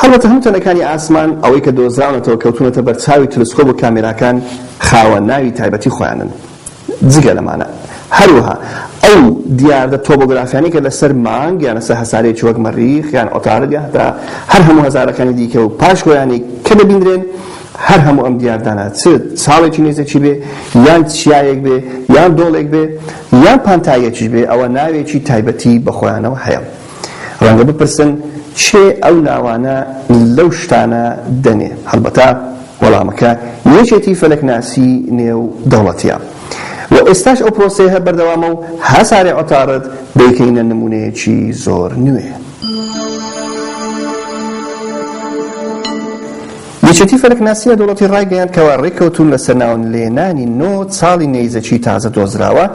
هەڵبەتە هەموو تەنەکانی ئاسمان، ئەوەی کە دۆزراونەتەوە کەوتوونەتە بەرچاوی تەلسکۆب و کامێراکان، خاوەن ناوی تایبەتی خۆیانن جگە لەمانە. هەروەها ئەو دیاردە تۆبۆگرافیانەی کە لەسەر مانگ یان لەسەر هەسارەیەکی وەک مەریخ یان عوتارد یان هەتا هەر هەموو هەزارەکانی دیکە و پاش وەیانی کە دەبیندرێن، هەر هەموو ئەم دیاردانە چ چاڵێکی نێزەکی بێ یان چیایەک بێ یان دۆڵێک بێ یان پانتاییەکیش بێ، ئەوە ناوێکی تایبەتی بە خۆیانەوە هەیە. ڕەنگە بپرسن کێ ئەو ناوانە لەو شتانە دەنێ؟ هەڵبەتە وەڵامەکە یەکێتی فەلەکناسی نێو دەوڵەتیە و ئێستاش ئەو پرۆسەیه بەردەوامە و هەسارێ عوتارد دەیکەینە نمونەیەکی زۆر نوێ. یەکێتی فەلەکناسی نێودەوڵەتی ڕایگەیاند کەوا ڕێککەوتوون لەسەر ناونلێنانی نۆ چاڵی نەیزەکی تازە دۆزراوە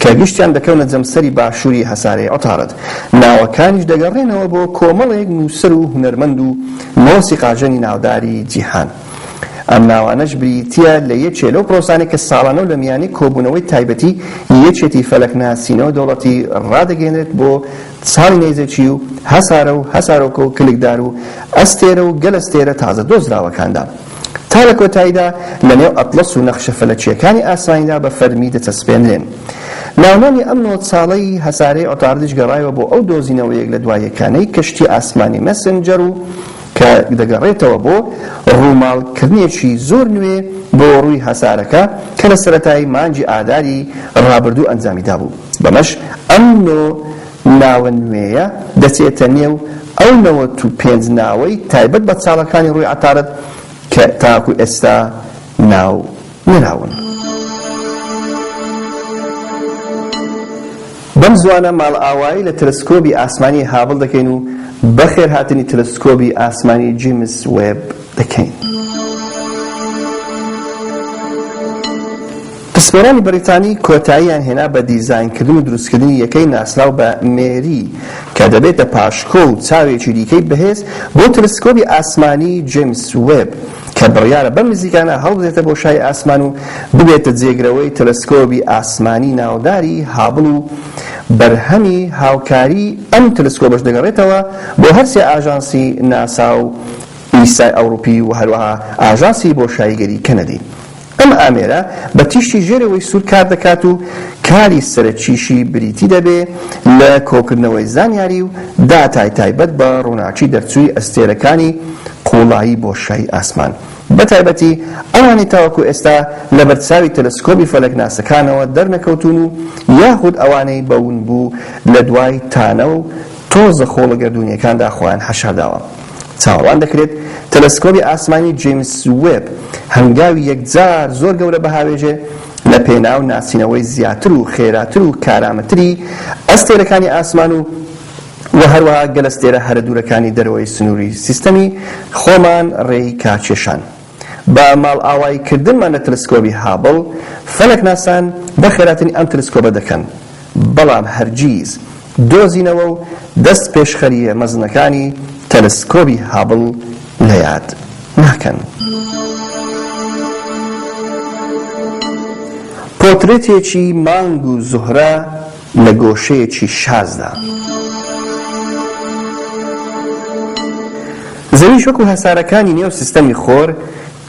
کە گشتیان دەکەونە جەمسەری باشووری هەسارەی عوتارد، ناوەکانیش دەگەڕێنەوە بۆ کۆمەڵێک نووسەر و هونەرمەند و مۆسیقاژەنی ناوداری جیهان. ئەم ناوانەش بریتییە لە یەکێ لەو پرۆسانەی کە ساڵانە و لە میانەی کۆبوونەوەی تایبەتی یەکێتی فەلەکناسی نێودەوڵەتی ڕادەگەیەنرێت بۆ ساڵی نەیزەکی و هەسارە و هەسارۆکە و کلکدار و ئەستێرە و گەلەستێرە تازە دۆزراوەکاندا تا لە کۆتاییدا لە نێو ئەتڵەس و نەخشە فەلەکییەکانی ئاسمانیدا بە فەرمی دەچەسپێنرێن. ناونانی ئەم نۆ ساڵەی هەسارەی عوتاردیش گەڕایەوە بۆ ئەو دۆزینەوە یەک لە دوا یەکانەی کەشتی ئاسمانی مەسنجەر و کە دەگەڕێتەوە بۆ ڕووماڵکردنێکی زۆر نوێ بۆ ڕووی هەسارەکە کە لە سەرەتای مانگی ئاداری ڕابردوو ئەنجامی دابوو. بەمەش ئەم نۆ ناوە نوێیە دەچێتە نێو ئەو نەوەت و پێنج ناوەی تایبەت بە چاڵەکانی ڕووی عەتارد کە تاکو ئێستا ناو نراون. بەم زووانە ماڵئاوایی لە تەلەسکۆبی ئاسمانی هابڵ دەکەین و بەخێرهاتنی تەلەسکۆبی ئاسمانی جیمس وێب دەکەین. پسپۆرانی بەریتانی کۆتاییان هێنا بە دیزاینکردن و دروستکردنی یەکەی ناسراو بە مێری کە دەبێتە پاشکۆ و چاوێکی دیکەی بەهێز بۆ تەلسکۆبی ئاسمانی جەیمس وێب کە بڕیارە بەم نزیکانە هەڵبدرێتە بۆشای ئاسمان و ببێتە جێگرەوەی تەلسکۆبی ئاسمانی ناوداری هابڵ و بەرهەمی هاوکاریی ئەم تەلسکۆبەش دەگەڕێتەوە بۆ هەرسێ ئاژانسی ناسا و ئیسای ئەوڕوپی و هەروەها ئاژانسی بۆشاییگەری کەنەدی. ئەم ئامێرە بە تیشکی ژێرەوەی سوور کار دەکات و کاری سەرەکیشی بریتی دەبێ لە کۆکردنەوەی زانیاری و داتای تایبەت بە ڕووناکی دەرچووی ئەستێرەکانی قووڵایی بۆشای ئاسمان بە تایبەتی ئەوانەی تاوەکو ئێستا لە بەرچاوی تەلەسکۆبی فەلەکناسەکانەوە دەرنەکەوتوون و یاخود ئەوانەی بە ونبوو لە دوای تانە و تۆزە خۆڵە گەردوونییەکاندا خۆیان حەشارداوە. چاوەڕوان دەکرێت تەلەسکۆبی ئاسمانی جەیمس وێب هەنگاوی یەکجار زۆر گەورە بهاوێژێ لە پێناو ناسینەوەی زیاتر و خێراتر و کارامەتری ئەستێرەکانی ئاسمان و و هەروەها گەلەستێرە هەرە دوورەکانی دەرەوەی سنووری سیستەمی خۆمان ڕێی کاکێشان. بە ماڵئاوایی کردنمان لە تەلسکۆبی هابڵ، فەلەکناسان بە خێراتنی ئەم تەلسکۆبە دەکەن، بەڵام هەرگیز دۆزینەوە و دەست پێشخەرییە مەزنەکانی تەلسکۆبی هابڵ لە یاد ناکەن. پۆترێتێکی مانگ و زوهرە. لە گۆشەیەکی شازدا. زەویش وەکو هەسارەکانی نێو سیستەمی خۆر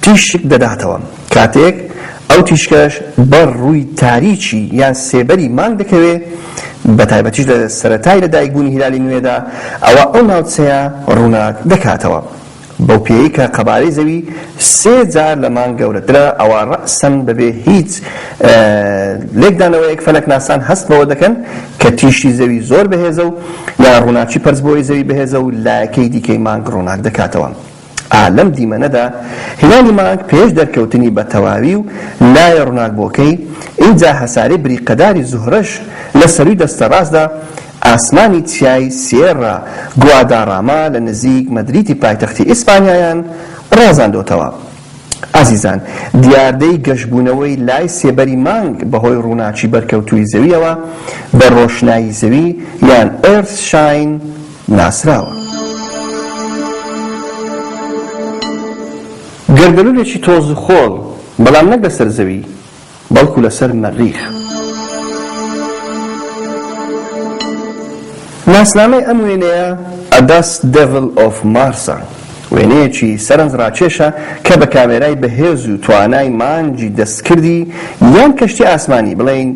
تیشک دەداتەوە، کاتێک ئەو تیشکەش بەر ڕووی تاریکی یان سێبەری مانگ دەکەوێ، بەتایبەتیش لە سەرەتای لەدایکبوونی هیلالی نوێدا، ئەوا ئەو ناوچەیە ڕووناک دەکاتەوە. بەو پێیەی کە قەبارەی زەوی سێ جار لە مانگ گەورەترە، ئەوا رەئسەن بەبێ هیچ لێکدانەوەیەک فەلەکناسان هەست بەوە دەکەن کە تیشکی زەوی زۆر بەهێزە و یان رووناکی پەرچبووەی زەوی بەهێزە و لایەکەی دیکەی مانگ رووناک دەکاتەوە. ئا لەم دیمەنەدا هیلالی مانگ پێش دەرکەوتنی بە تەواوی و لایە رووناکبووەکەی، ئینجا هەسارەی بریقەداری زوهرەش لە سەرووی دەستە راستدا ئاسمانی چیای سیێررا گواداڕاما لە نزیک مەدریدی پایتەختی ئیسپانیایان ڕازاندۆتەوە. ئازیزان، دیاردەی گەشبوونەوەی لای سێبەری مانگ بەهۆی ڕووناکی بەرکەوتووی زەوییەوە بە ڕۆشنایی زەوی یان Earth Shine ناسراوە. گەردەلوولێکی تۆزوخۆڵ، بەڵام نەک لەسەر زەوی. بەڵکو لەسەر مەریخ. ناسنامەی ئەم وێنەیە A Dust Devil of Mars ە، وێنەیەکی سەرنج ڕاکێشە کە بە کامێرای بەهێز و توانای مانگی دەستکردی یان کەشتی ئاسمانی بڵێین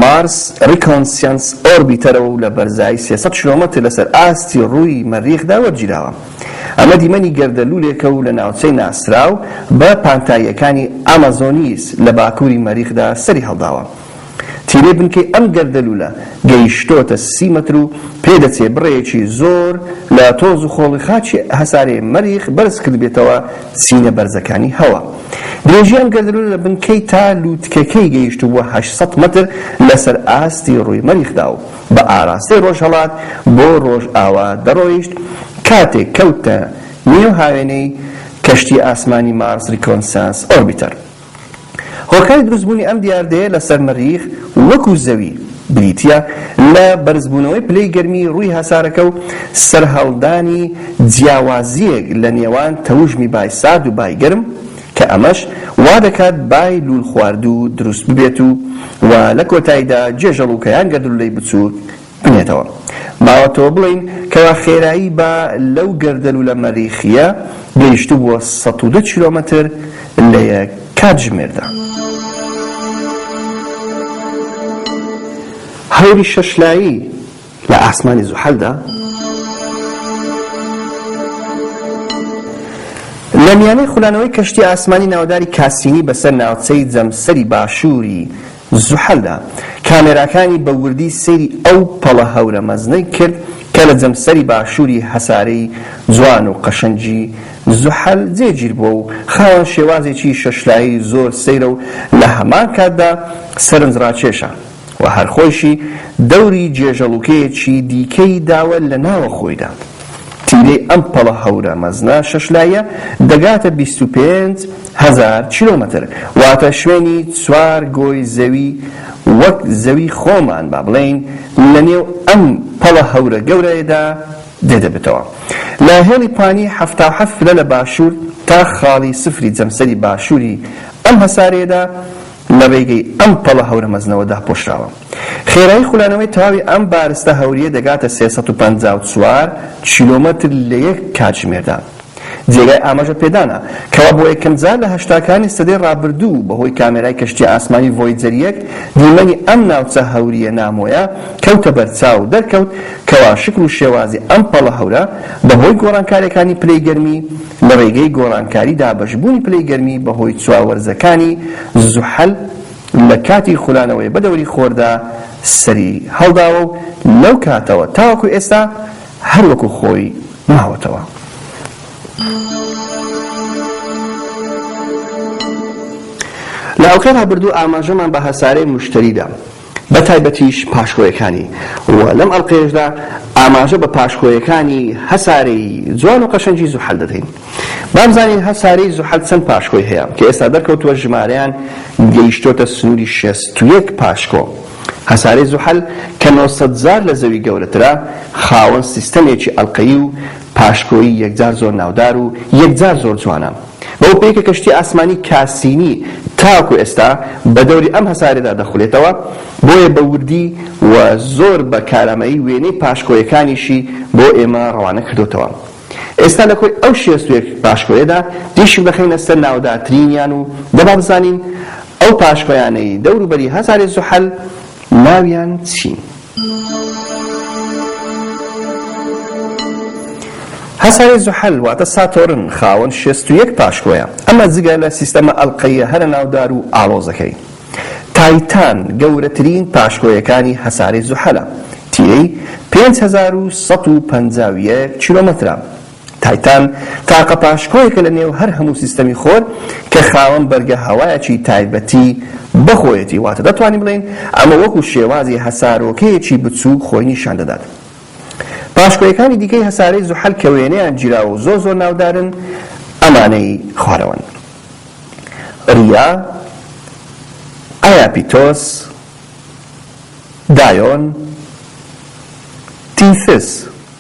Mars Reconnaissance Orbiter ە و لە بەرزایی سێ سەد کیلۆمەتر لەسەر ئاستی ڕووی مەریخدا وەرگیراوە. ئەمە دیمەنی گەردەلوولێکە و لە ناوچەی ناسراو بە پانتاییەکانی ئامازۆنیس لە باکووری مەریخدا سەری هەڵداوە. تیرەی بنکەی ئەم گەردەلوولە گەیشتۆتە سی مەتر و پێدەچێ بڕێکی زۆر لە تۆز و خۆڵی خاکی هەسارەی مەریخ بەرز کردبێتەوە چینە بەرزەکانی هەوا. درێژی ئەم گەردەلوولە لە بنکەی تا لووتکەکەی گەیشتبووە هەشت سەد مەتر لەسەر ئاستی ڕووی مەریخدا و، بە ئاراستەی ڕۆژهەڵات بۆ ڕۆژئاوا دەڕۆیشت، کاتێک کەوتە نێو هاوێنەی کەشتییە ئاسمانی مارس ڕیکۆنسانس ئۆربیتەر. هۆکاری دروستبوونی ئەم دیاردەیە لەسەر مەریخ وەکو زەوی، بریتییە لە بەرزبوونەوەی پلەی گەرمی ڕووی هەسارەکە و سەرهەڵدانی جیاوازییەک لە نێوان تەوژمی بای سارد و بای گەرم، کە ئەمەش وا دەکات بای لوول خواردوو دروست ببێت و و لە کۆتایدا جێژەڵووکە یان گەردنلوولەی بچووک بنێتەوە ماوەتەوە بڵێین کەوا خێرایی با لەو گەردەلوولە مەریخییە گەیشتبووە سەد و دە کیلۆمەتر لە یەک کاتژمێردا. هەوری شەشلایی لە ئاسمانی زوحەلدا لە میانەی خولانەوەی کەشتی ئاسمانی ناوداری کاسینی بەسەر ناوچەی جەمسەری باشووری زوحەلدا کامێراکانی بە وردی سەیری ئەو پەڵە هەورە مەزنەی کرد کە لە جەمسەری باشووری هەسارەی جوان و قەشەنگی زوحەل جێگیر بووە و خاوەن شێوازێکی شەشلایی زۆر سەیرە و لە هەمان کاتدا سەرنجڕاکێشە. و هەر خۆیشی دەوری جێژەڵوکەیەکی دیکەی داوە لە ناوە خۆیدا. تیرەی ئەم پەڵە هەورە مەزنە شەش لاییە دەگاتە بیست و پێنج هەزار کیلۆمەتر، واتە شوێنی چوار گۆی زەوی وەک زەوی خۆمان با بڵێین لە نێو ئەم پەڵە هەورە گەورەیەدا دێدەبێتەوە. لە هێڵی پانی حەفتا و حەفت پلە لە باشوور تا خاڵی سفری جەمسەری باشووری ئەم هەسارەیەدا، لە رێگەی ئەم پەڵە هەورە مەزنەوە داپۆشراوە. خێرایی خولانەوەی تەواوی ئەم بارستە هەورییە دەگاتە سێ سەد و پەنجا و چوار کیلۆمەتر لە یەک کاتژمێردا. جێگای ئاماژە پێدانە، کەوا بۆ یەکەمجار لە هەشتاکانی سەدەی رابردوو بە هۆی کامێرای کەشتییە ئاسمانی ڤۆیجەر یەک دیمەنی ئەم ناوچە هەورییە نامۆیە کەوتە بەرچاو و دەرکەوت کەوا شکل و شێوازی ئەم پەڵە هەورە بە هۆی گۆڕانکارییەکانی پلەی گەرمی لە ڕێگەی گۆڕانکاری دابەشبوونی پلەی گەرمی بەهۆی چوار وەرزەکانی زوحەل لە کاتی خولانەوەی بە دەوری خۆردا سەری هەڵداوە و لەو کاتەوە تاوەکو ئێستا هەر وەکو خۆی ماوەتەوە. لە ئەڵقەی ڕابردوو ئاماژەمان بە هەسارەی موشتەری دا. بە تایبەتیش پاشکۆیەکانی و لەم ئەڵقەیەشدا ئاماژە بە پاشکۆیەکانی هەسارەی جوان و قەشەنگی زوحەل دەدەین با بزانین هەسارەی زوحەل چەند پاشکۆی هەیە کە ئێستا دەرکەوتووە ژمارەیان گەیشتۆتە سنوری شێست و یەک پاشکۆ هەسارەی زوحەل کە نۆ سەد جار لە زەوی گەورەترە خاوەن سیستەمێکی ئەڵقەیی و پاشکۆیی یەکجار زۆر ناودار و یەکجار زۆر جوانە. بەو پێیە کە کەشتی ئاسمانی کاسینی تاوەکو ئێستا بە دەوری ئەم هەسارەدا دەخولێتەوە، بۆیە بە وردی و زۆر بە کارامەیی وێنەی پاشکۆیەکانیشی بۆ ئێمە ڕەوانە کردۆتەوە. ئێستا لە کۆی ئەو شێست و یەک پاشکۆیەدا تیشک دەخەینە سەر ناودارترینیان و دەبا بزانین ئەو پاشکۆیانەی دەوروبەری هەسارەی زوحەل ناویان چین؟ هەسارەی زوحەل واتە ساتۆرن خاوەن شێست و یەک پاشکۆیە، ئەمە جگە لە سیستەمە ئەڵقەییە هەرە ناودار و ئاڵۆزەکەی. تایتان گەورەترین پاشکۆیەکانی هەسارەی زوحەلە، تیرەی پێنج هەزار و سەد و پەنجا و یەک کیلۆمەترە، تایتان تاقە پاشکۆیەکە لە نێو هەر هەموو سیستەمی خۆر کە خاوەن بەرگە هەوایەکی تایبەتی بە خۆیەتی، واتە دەتوانین بڵێین ئەمە وەکو شێوازی هەسارۆکەیەکی بچووک خۆی نیشان دەدات. پاشکۆیەکانی دیکەی هەسارەی زوحەل کە وێنەیان گیراوە و زۆر زۆر ناودارن ئەمانەی خوارەوەن. ریا، ئایاپیتۆس، دایۆن، تیثس.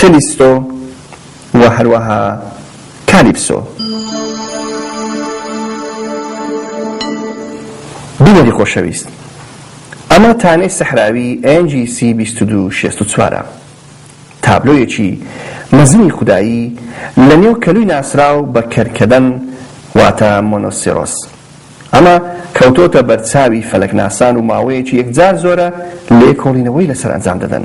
کەلیستۆ و هەروەها کالیپسۆ. بینەری خۆشەویست، ئەمە تانەی سەحراوی NGC بیست و دوو شێست و چوار ە، تابلۆیەکی مەزنی خودایی لە نێو کەلوی ناسراو بە کەرکەدەن واتە مۆنۆسێرۆس. ئەمە کەوتۆتە بەرچاوی فەلەکناسان و ماوەیەکی یەکجار زۆرە لێکۆڵینەوەی لەسەر ئەنجام دەدەن.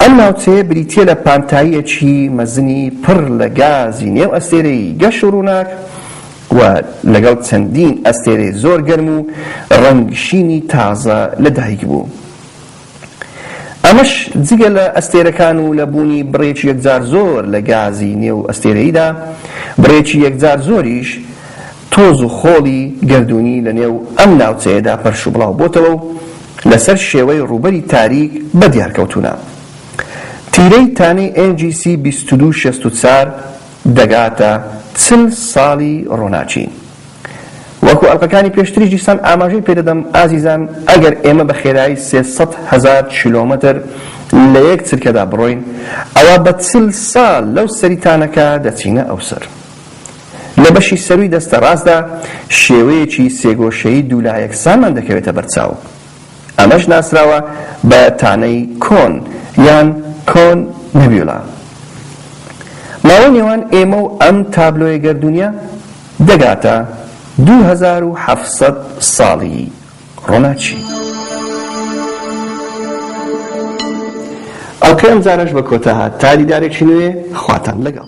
ئەم ناوچەیە بریتییە لە پانتاییەکی مەزنی پڕ لە گازی نێو ئەستێرەیی گەش و ڕووناک و لەگەڵ چەندین ئەستێرەی زۆر گەرم و ڕەنگ شینی تازە لە دایک بوو. ئەمەش جگە لە ئەستێرەکان و لە بوونی بڕێکی یەکجار زۆر لە گازی نێو ئەستێرەییدا، بڕێکی یەکجار زۆریش تۆز و خۆڵی گەردوونی لە نێو ئەم ناوچەیەدا پەرش و بڵاو بۆتەوە و لە سەر شێوەی ڕووبەری تاریک بە دیار کەوتوونە. تیرەی تانەی NGC بیست و دوو شەست و چوار دەگاتە چل ساڵی ڕووناکی. وەکو ئەڵقەکانی پێشتریش دیسان ئاماژەی پێ دەدەم ئازیزان ئەگەر ئێمە بە خێرایی سێ سەد هەزار کیلۆمەتر لە یەک چرکەدا بڕۆین ئەوا بە چل ساڵ لەو سەری تانەکە دەچینە ئەو سەر. لە بەشی سەرووی دەستە ڕاستدا شێوەیەکی سێگۆشەیی دوولا یەکسانمان دەکەوێتە بەرچاو، ئەمەش ناسراوە بە تانەی کۆن یان Cone Nebula. ماوەی نێوان ئێمە و ئەم تابلۆیە گەردوونیە دەگاتە دوو هەزار و حەفت سەد ساڵی ڕۆناچی. ئەڵقەی ئەمجارەش بە کۆتا هات، تا دیدارێکی نوێ خواتان لەگەڵ.